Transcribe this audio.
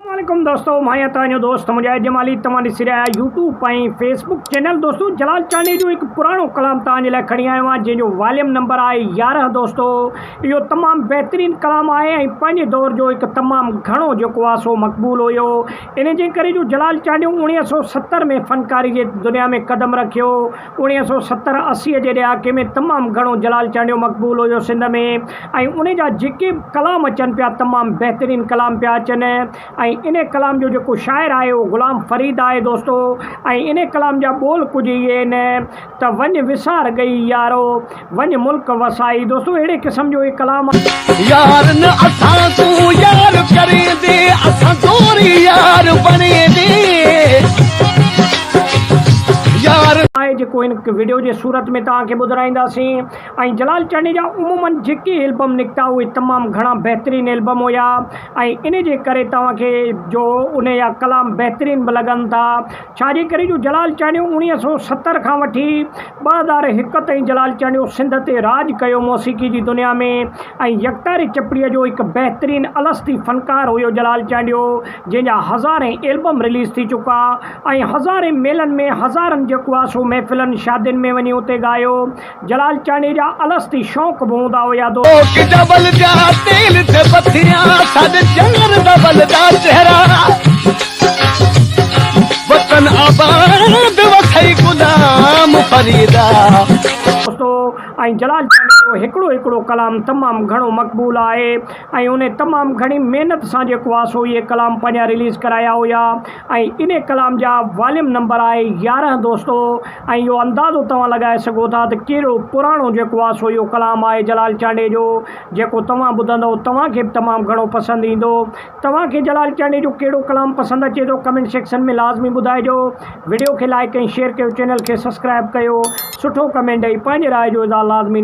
عليڪم دوستو مان آهيان توهان جو دوست مجاهد جمالي توهان ڏسي رهيا آهيو يوٽيوب ۽ فيس بڪ چينل دوستو جلال چانڊيي جو هڪ پراڻو ڪلام توهان جي لاء کڻي آيو آهيان جنهن جو واليوم نمبر آهي يارهن دوستو اهو تمام بهترين ڪلام آهي ۽ پنهنجي دور جو هڪ تمام گهڻو جيڪو آهي سو مقبول هيو ان جي ڪري جو جلال چانڊيو اوڻيهه سئو ستر ۾ فنڪاري جي دنيا ۾ قدم رکيو اڻيهه سؤ ستر اسي جي ڏهاڪي ۾ تمام گهڻو جلال چانڊيو مقبول هيو سنڌ ۾ ۽ ان جا جيڪي به ڪلام اچن پيا تمام بهترين ڪلام پيا اچن ۽ ان ڪلام جو جيڪو شاعر آهي اهو غلام فريد آهي دوستو ۽ ان ڪلام جا ٻول ڪجهه اهي آهن ته وڃ وسار ڳئي يارو وڃ ملڪ وسائي. دوستو اهڙي قسم جو هي ڪلام آهي. يار نه اسان سون يار ڪرين دي اسان دوري يار بڻين دي يار. آهي جيڪو هن وڊيو جي صورت ۾ توهان کي ٻڌرائينداسين ۽ جلال چنڙيجا عموما جيڪي البم نڪتا اهي تمام گهڻا بهترين البم هيا ۽ انهي جي ڪري توهان کي جو انهي جا ڪلام بهترين به لڳن ٿا ڇا جي ڪري جو جلال چانڊيو اوڻيهه سؤ ستر کان وٺي ٻه هزار هڪ تائين جلال چانڊيو سنڌ تي راڄ ڪيو موسيقي جي دنيا ۾ ۽ يڪتاري چپڙي جو هڪ بهترين الستي فنڪار هيو جلال چانڊيو جنهن جا هزارين البم رليز ٿي چڪا ۽ هزارين ميلن ۾ هزارن جيڪو آسو محفلن شادين ۾ وڃي اتي ڳايو جلال چانڊيي جا الستي شوق به هوندا هيا دو. ڪوڪ ڊبل جا تيل تي پٿريا سڏ چنر ڊبل جا چهرا وطن آباد وٿئي غلام فريدا. استو ۽ جلال چانڊيي جو هڪڙو هڪڙو ڪلام تمام گهڻو مقبول آهي ۽ انهي تمام گهڻي محنت سان جيڪو آ سو اهي ڪلام پنهنجا رليز ڪرايا هيا ۽ انهي ڪلام جا واليوم نمبر آهي يارهن دوستو. ۽ اهو اندازو توهان لڳائي سگهو ٿا ته ڪهڙو پراڻو جيڪو آ سو اهو ڪلام آهي جلال چانڊيي جو جيڪو توهان ٻڌندؤ توهان کي به تمام گهڻو پسند ايندو. توهان کي جلال چانڊيي جو ڪهڙو ڪلام پسند اچي ٿو ڪمينٽ سيڪشن ۾ لازمي ٻڌائجو. وڊيو کي لائيڪ ۽ شيئر ڪيو چينل کي سسڪرائب ڪيو سٺو ڪمينٽ ڏئي پنهنجي راء جو اظهار لازمي.